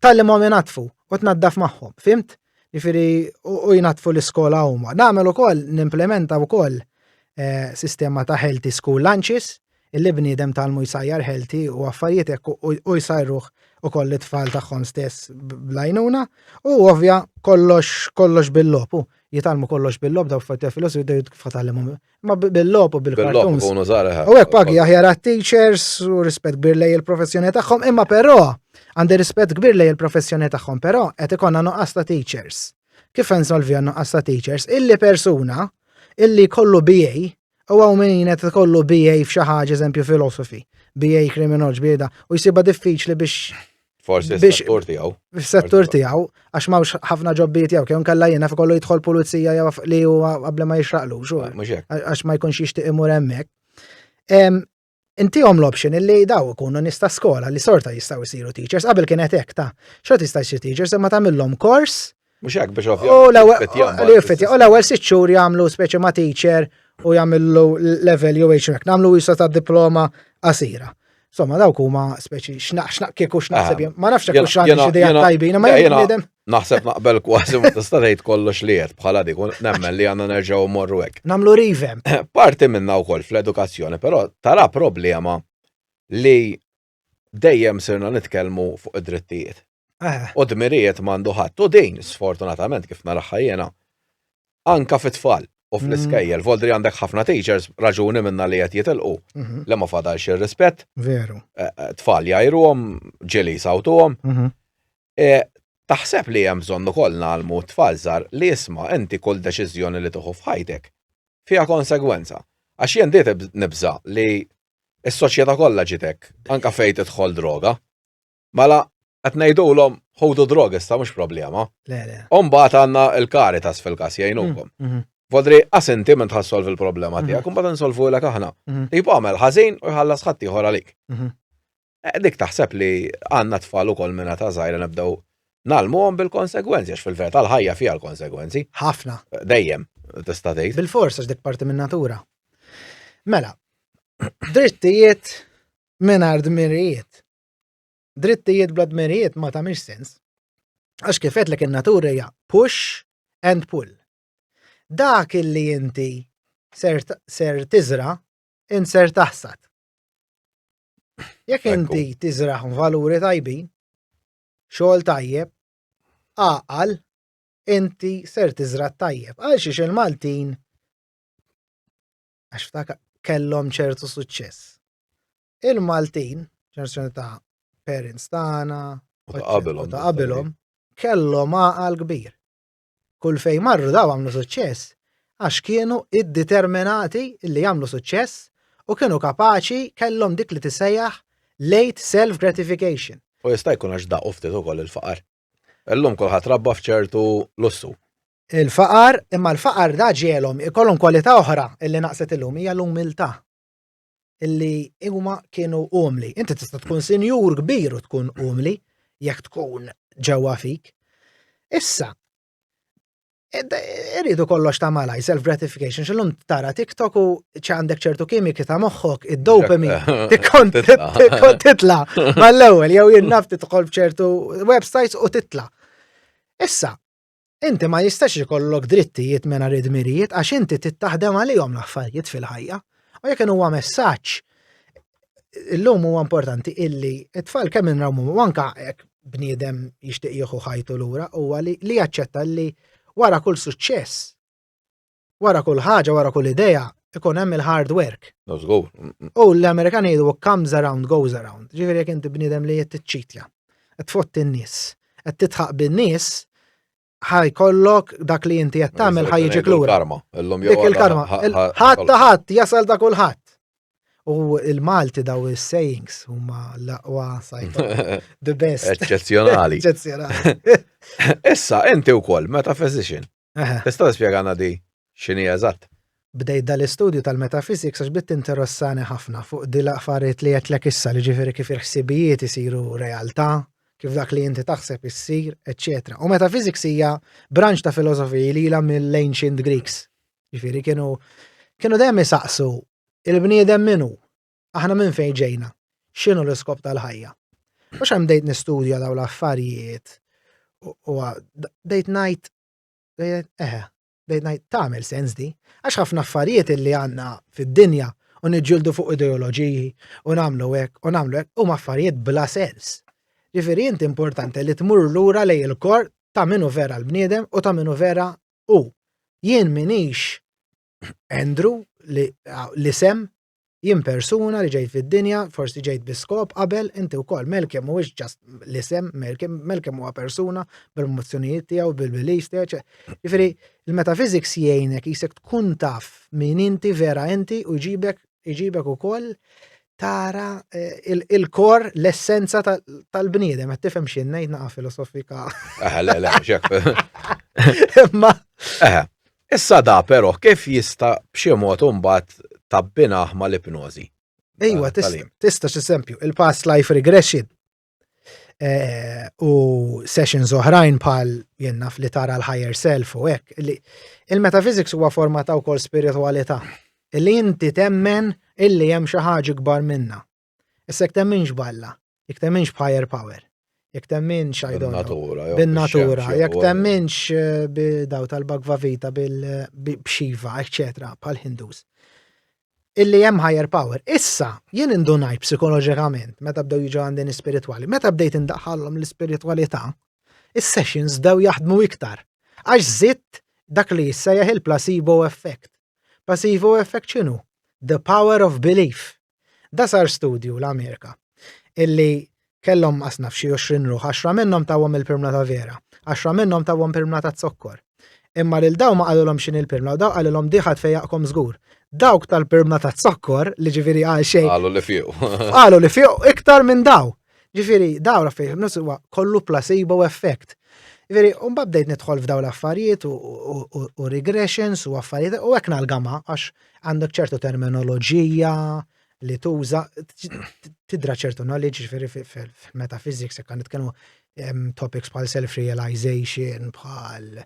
tallimhom inatfu u tnaddaf magħhom, fimt? Ġifieri u jnatfu l-iskola huma. Nagħmel ukoll nimplementa wkoll eh, sistema ta' healthy school lunches illi bniedem talmu jsajjar healthy u affarijiet hekk u jsajruh ukoll it-tfal tagħhom stess blajnuna u ovvja kollox kollox bil-lopu jitalmu kollox bil-lob daw fatta filosofi u kif tallimhom Ma bil-lop u bil-kartun. Bil-lop u zara. U għek pagi aħjar għat-teachers u rispet kbir lej il-professjoni tagħhom, imma però għandi rispet kbir lej il-professjoni tagħhom, però qed ikonna nuqqas ta' teachers. Kif nsolvi għan nuqqas ta' teachers? Illi persuna illi kollu BA u għaw minn qed kollu BA f'xi ħaġa eżempju filosofi, BA kriminoloġi, BA da, u jsiba diffiċli biex Forsi fis-settur tiegħu. Fis-settur tiegħu, għax m'hawnx ħafna ġobbiet jew kemm kellha jiena kollu jidħol pulizija jew li huwa qabel ma jixraqlux. Għax ma jkunx jixtieq imur hemmhekk. Intihom l-option illi daw ikunu nista skola li sorta jistgħu jsiru teachers qabel kien hekk ta' xorta jista' jsir teachers imma tagħmilhom kors Mhux hekk biex ovvjament. Li jiffetja, u l-ewwel sitt xhur jagħmlu speċi ma' teacher u jagħmlu level jew hekk, nagħmlu jisa ta' diploma qasira. Somma dawk huma speċi x'naq x'naq kieku x'naħseb ah, ma nafx hekk x'għandi xi dejja tajbin ma jgħidem. Naħseb naqbel kważi ma tista' tgħid kollox li qed bħala dik nemmen li għandna nerġgħu morru hekk. Nagħmlu rivem. Parti minna wkoll fl-edukazzjoni, però tara problema li Dejjem sirna nitkellmu fuq id-drittijiet. Eh. U dmirijiet m'għandu ħadd. U din, sfortunatament, kif naraħħa jiena, anka fit-tfal u fl-iskejjel, mm. voldri għandek ħafna teachers, raġuni minna li qed jitilqu, mhm. li ma fadalx ir-rispett. Veru. Eh, eh, tfal jajruhom, ġili sawtuhom. Mhm. E, taħseb li hemm bżonn ukoll nagħlmu t-tfal żgħar li isma' inti kull deċiżjoni li tieħu f'ħajtek fiha konsegwenza. Għax jien diet nibża' li s-soċjetà kollha ġiet hekk, anke fejn tidħol droga. Mela qed ngħidulhom ħudu droga issa mhux problema. Le, le. U mbagħad għandna l-Caritas fil-każ jgħinukom. Mm, mhm. Vodri, għas inti minn tħassolvi l-problema mhm. tiegħek, imbagħad insolvu lek aħna. Mhm. Tipo għamel ħażin u jħallas ħadd ieħor għalik. Eh, dik taħseb li għandna tfal ukoll minna ta' żgħira nibdew nalmuhom bil-konsegwenzi, għax fil-verità l-ħajja fiha l-konsegwenzi. Ħafna. Eh, dejjem, tista' tgħid. Bil-fors għax dik parti min-natura. Mela, drittijiet mingħajr dmirijiet. Drittijiet bla dmirijiet ma tagħmilx sens. Għax kifet li in-natura hija push and pull. Dak illi inti ser, ser tiżra, in ser taħsad. Jekk inti tiżraħ valuri tajbin, xogħol tajjeb, għaqal, inti ser tiżra' tajjeb. Għal xiex il-Maltin għax ftak kellhom ċertu suċċess. Il-Maltin, ġenerzjoni ta' parents tagħna, ta' qabilhom kellhom għaqal kbir. Kull fejn marru daw għamlu suċċess għax kienu iddeterminati li jagħmlu suċċess u kienu kapaċi kellhom dik li tisejjaħ late self gratification. U jista' jkun għax daqu ftit ukoll il-faqar. Illum kulħadd rabba f'ċertu lussu. Il-faqar, imma l-faqar da ġielhom ikollhom kwalità oħra illi naqset illum hija l-umiltà. illi huma kienu umli. Inti tista' tkun sinjur kbir u tkun umli jekk tkun ġewwa fik. Issa, irridu kollox ta' malaj, self-gratification, xillum tara TikTok u ċandek ċertu kimiki ta' moħħok, id-dopami, tikkont titla, mal-ewel, jew jinnaf titħol bċertu websites u titla. Issa, Inti ma jistax ikollok drittijiet mena rid mirijiet għax inti tittaħdem għalihom l-affarijiet fil-ħajja. U jekk huwa messaġġ illum huwa importanti illi it-tfal kemm inrawmu anka jekk bniedem jixtieq jieħu ħajtu lura huwa li jaċċetta li wara kull suċċess Wara kull ħaġa, wara kull idea, ikun hemm il-hard work. No żgur. U l-Amerikan jgħidu what comes around goes around. Ġifieri jekk inti bniedem li qed tiċċitja, qed tfotti n-nies, qed titħaq bin-nies, ħaj kollok dak li inti qed tagħmel ħaj jiġi klura. Karma, illum jew. Dik il-karma. Ħadd ta' ħadd jasal ta' kulħadd. U il-Malti daw il-sayings huma l-aqwa sajta. The best. Eċċezzjonali. Eċċezzjonali. Issa, inti wkoll, metaphysician. Tista' tispjegana di x'inhi eżatt? Bdejt dal-istudju tal-metaphysics għax bdiet tinterossani ħafna fuq di l-affarijiet li għedtlek issa li ġifieri kif il-ħsibijiet isiru realtà, kif dak li inti taħseb issir, eċċetera. U metaphysics hija branċ ta' filosofiji li ilha mill-ancient Greeks. Ġifieri kienu kienu dejjem isaqsu il-bniedem min hu? Aħna minn fejn ġejna? X'inhu l-iskop tal-ħajja? Mhux hemm dejt nistudja daw l-affarijiet u dejt ngħid eħe, dejt ngħid tagħmel sens di, għax ħafna affarijiet li għandna fid-dinja u niġġieldu fuq ideoloġiji u nagħmlu hekk u nagħmlu hekk huma affarijiet bla sens. Ġifieri inti importanti li tmur lura lej il-kor ta' minu vera l-bniedem u ta' minu vera u. Jien minix Andrew li l-isem jien persuna li ġejt fid-dinja, forsi ġejt biskop qabel, inti wkoll Melkem mhuwiex ġast l-isem Melkem, Melkem huwa persuna bil-mozzjonijiet tiegħu, bil-beliefs tiegħu. Jiġifieri il-metaphysics jgħinek jisek tkun taf min inti vera inti u jġibek iġibek ukoll tara eh, il-kor l-essenza tal-bniedem, għat tifem xinnejt naqa filosofika. Aha, le, le, xek. Ma. Aha. Issa da però kif jista' b'xi mod imbagħad tabbinah mal-ipnożi? Ejwa, tista' x'esempju, il-past life regression eh, u sessions oħrajn bħal jenna f'li tara l-higher self u hekk. Il-metaphysics huwa forma ta' wkoll spiritualità. Li inti temmen illi hemm xi ħaġa kbar minna. Issa jekk temminx b'Alla, jekk temminx b'higher power, jekk temminx I don't know, bin-natura, jekk temminx eh, b'daw tal-Bhagva Vita, b'Shiva, eccetera, bħal-Hindus. Illi hemm higher power. Issa, jien indunajt psikoloġikament, meta bdew jiġu għandin spirituali, meta bdejt indaħħallhom l-spiritualità, is-sessions bdew jaħdmu iktar. Għax zitt dak li jissejjaħ il-placebo effect. Placebo effect x'inhu? The power of belief. Da sar studju l-Amerika illi kellhom qasna f'xi 20 ruħ, 10 minnhom tawhom il-pirmla ta' vera, 10 minnhom tawhom pirmla ta' zokkor. Imma lil daw ma qalilhom x'in il-pirmla u daw qalilhom diħat fejjaqkom żgur. Dawk tal-pirmla ta' zokkor li ġifieri għal xejn. Qalu li fiq. Qalu li fiq iktar minn daw. Ġifieri daw raffej huwa kollu placebo effect. Ġifieri u mbagħad bdejt nidħol f'daw l-affarijiet u regressions u affarijiet u hekk nalgama għax għandek ċertu terminoloġija li tuża tidra ċertu knowledge ġifieri fil-metaphysics jekk nitkellmu topics bħal self-realization, bħal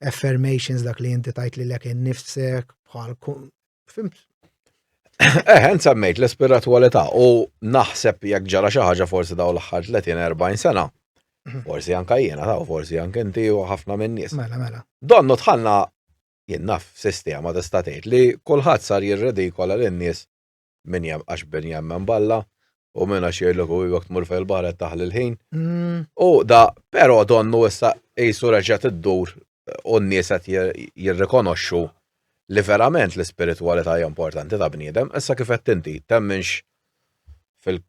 affirmations dak li inti tajt li lek innifsek, bħal fimt. Eh, nsammejt l-espiritualità u naħseb jekk ġara xi ħaġa forsi daw l-aħħar 30-40 sena. Mhm. Forsi anka jiena taw, forsi anke inti u ħafna minn nies. Mela, mela. Donnu tħanna Jien naf sistema tista' tgħid li kulħadd sar jirridikola lin-nies min għax min jemmen b'Alla u min għax jgħidlek u jekk tmur fejn il-baħar qed taħli l-ħin. U da, però donnu issa qisu reġgħet iddur u n-nies qed jirrikonoxxu li verament l-ispiritwalità hija importanti ta' bniedem, issa kif qed inti temminx fil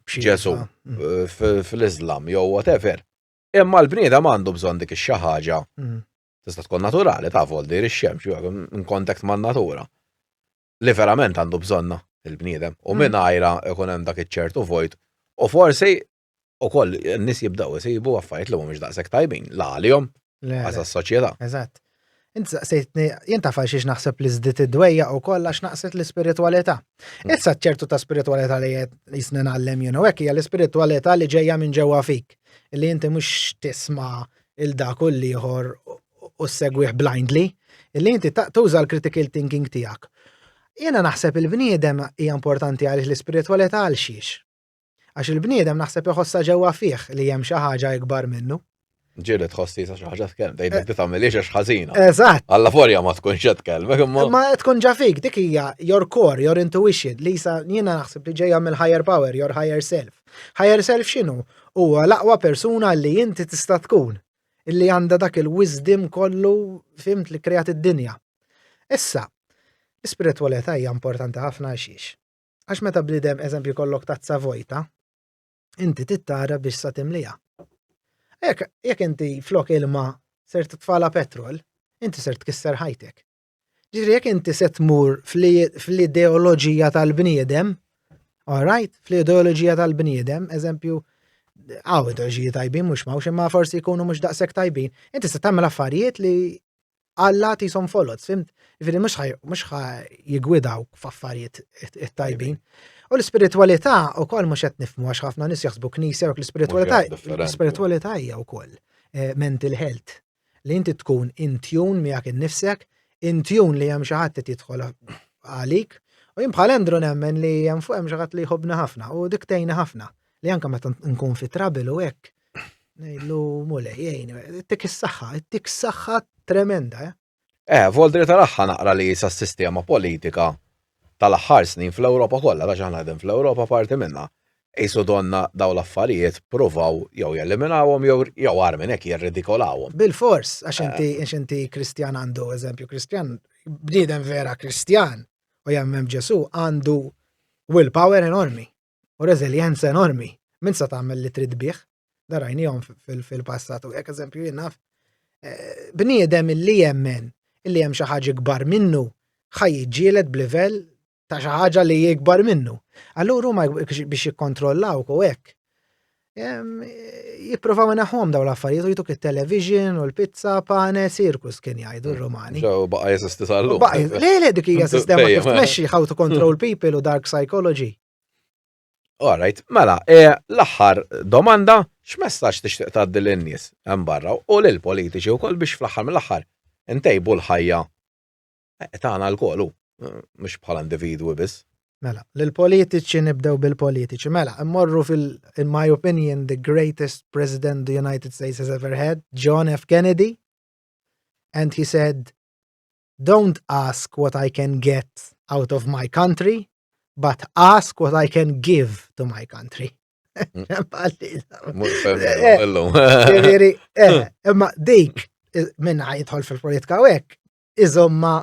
Ġesu, fil-Iżlam jew whatever. Imma l-bniedem għandu bżonn dik ix-xi ħaġa Tista' tkun naturali ta' voldir ix-xemx in kontakt man-natura li verament għandu bżonna il-bniedem u minn għajra ikun hemm dak iċ-ċertu vojt u forsi ukoll n-nies jibdew isibu affarijiet li mhumiex daqshekk tajbin la għalihom għaż soċjetà. Eżatt. Int saqsejtni, jien taf xiex naħseb li żdiet id-dwejja u koll għax naqset l-ispiritualità. Mm. Issa ċertu ta' spiritualità li qed jisna nagħlem jien u hekk hija l-ispiritualità li ġejja minn ġewwa fik, li inti mhux tisma' il-dak u l-ieħor u segwih blindly, li inti tuża l-critical thinking tiegħek. Jiena naħseb il-bniedem hija importanti għaliex l-ispiritwalità għal xiex. Għax il-bniedem naħseb iħossa ġewwa fih li hemm xi ħaġa ikbar minnu. Ġieli tħossi sa xi ħaġa tkellem, tgħidlek li eh. tagħmiliex għax ħażina. Eżatt. Alla forja ma tkunx qed tkellmek imma. Ma tkun ġa fik dik hija your core, your intuition li sa jiena naħseb li ġejja mill-higher power, your higher self. Higher self x'inhu? Huwa l-aqwa persuna li inti tista' tkun, illi għandha dak il-wisdom kollu fimt li krejat id-dinja. Issa, l-ispiritwalità hija importanti ħafna għaxiex. Għax meta bnidem eżempju kollok tazza vojta, inti tittara biex sa timlija. Jekk inti flok ilma ser titfala petrol, inti ser tkisser ħajtek. Ġifieri jekk inti se tmur fl-ideoloġija tal-bniedem, all right, fl-ideoloġija tal-bniedem, eżempju, għaw ideoloġiji tajbin mhux ma' imma forsi jkunu mhux daqshekk tajbin, inti se tagħmel affarijiet li Alla tisom folot, fimt? Ġifieri mhux mhux jigwidaw f'affarijiet tajbin. U l-ispiritwalità wkoll mhux qed nifhmu għax ħafna nies jaħsbu knisja u l-ispiritwalità l-ispiritwalità hija wkoll eh, mental health. li inti tkun in tune miegħek innifsek, in tune li hemm xi ħadd qed jidħol għalik. U jien bħal Andrew nemmen li hemm fuq hemm xi ħadd li jħobbni ħafna u dik tgħinni ħafna li anke meta nkun fi trabil u hekk ngħidlu mulej jgħin, ittik is-saħħa, ittik saħħa tremenda. Eh, eh voldri tal-aħħa naqra li sa sistema politika tal-aħħar snin fl-Ewropa kollha għax aħna qegħdin fl-Ewropa parti minnha Qisu donnha dawn l-affarijiet, pruvaw jew jeliminawhom jew, jew agħar minn hekk, jirridikolawhom. Bilfors, għax inti, għax inti Kristjan għandu, eżempju, Kristjan, bniedem vera Kristjan u jemmen f'Ġesù għandu will power enormi u reżiljenza enormi. Min sa tagħmel li trid bih, da rajnihom fil-passat u hekk eżempju jien naf eh, bniedem illi jemmen illi hemm xi ħaġa kbar minnu ħaj jiġġieled b'livell ta' xi ħaġa li jikbar minnu. Allura huma biex jikkontrollaw u hekk. Jipprovaw naħħom daw l-affarijiet u jituk il-television u l-pizza pane sirkus kien jgħidu r-Romani. Ġew baqa' jeżisti tal-lum. Le le dik hija sistema kif tmexxi how to control hmm. people u dark psychology. All right, mela, e, l-aħħar domanda x'messaġġ tixtieq tgħaddi lin-nies hemm barra u lill-politiċi wkoll biex fl-aħħar mill-aħħar intejbu l-ħajja Eh, tagħna lkoll hu, eh, mhux bħala individwi biss. Mela, l-politiċi nibdew bil-politiċi. Mela, immorru fil, in my opinion, the greatest president the United States has ever had, John F. Kennedy. And he said, don't ask what I can get out of my country, but ask what I can give to my country. Imma dik minna jidħol fil-politika u hekk, iżomma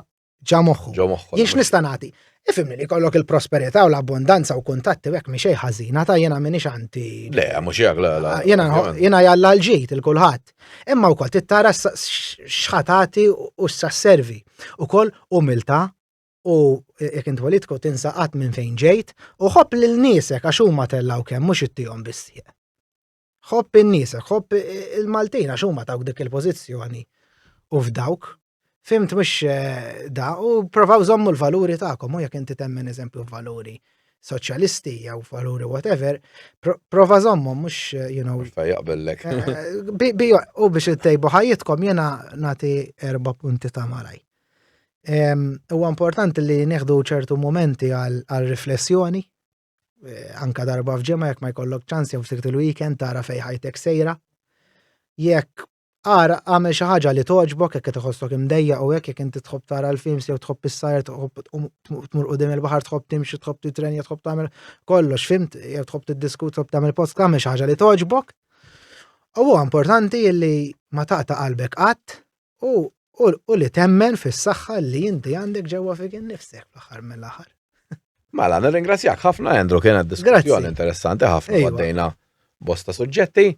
ġa moħħu. Ġo moħħu. Jiex nista' nagħti. Ifimni li kollok il-prosperità u l-abbondanza u kuntatti u hekk mi xejn ħażina ta' jiena minix anti. Le, mhux jgħak la la. Jiena jiena jalla l-ġid il-kulħadd. Imma wkoll tittara s- s- xħatati u s-sasservi. Ukoll umiltà u jekk int politku tinsa qatt minn fejn ġejt u ħobb lil niesek għax huma tellgħu kemm mhux ittihom bis-sieq. Ħobb in-nies, ħobb il-Maltin għax huma tawk dik il-pożizzjoni u f'dawk. Fimt mhux eh, da u provaw żommu l-valuri tagħkom u jekk inti temmen eżempju valuri soċjalisti jew valuri whatever, prova żommu mhux eh, you know. Fa jaqbellek. Eh, u biex ittejbu ħajjitkom jiena nagħti erba' punti ta' malaj. Huwa importanti li nieħdu ċertu momenti għal riflessjoni eh, anka darba f'ġemma jekk ma jkollok ċans jew sirt il-weekend tara fej ħajtek sejra. Jekk ara għamel xi ħaġa li toġbok jekk qed iħossok imdejja u hekk jekk inti tħobb tara l-films jew tħobb is-sajr tmur qudiem il-baħar tħobb timxi tħobb titrenja tħobb tagħmel kollox fimt jew tħobb tiddiskut tħobb tagħmel post tagħmel xi ħaġa li toġbok. U huwa importanti li ma taqta' qalbek qatt U u li temmen fis-saħħa li inti għandek ġewwa fik innifsek fl-aħħar mill-aħħar. Mela, nirringrazzjak ħafna Andrew kien għad diskussjoni interessanti ħafna għaddejna bosta suġġetti.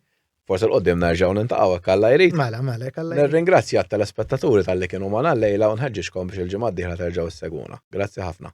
Forse l-qoddim nerġaw nintaqaw hekk alla jrid. Mela, mela, hekk alla jrid. Nirringrazzja t-telespettaturi tal-li kienu ma' lejla u nħeġġixkom biex il-ġimgħa d-dieħla terġgħu s-seguna. Grazzi ħafna.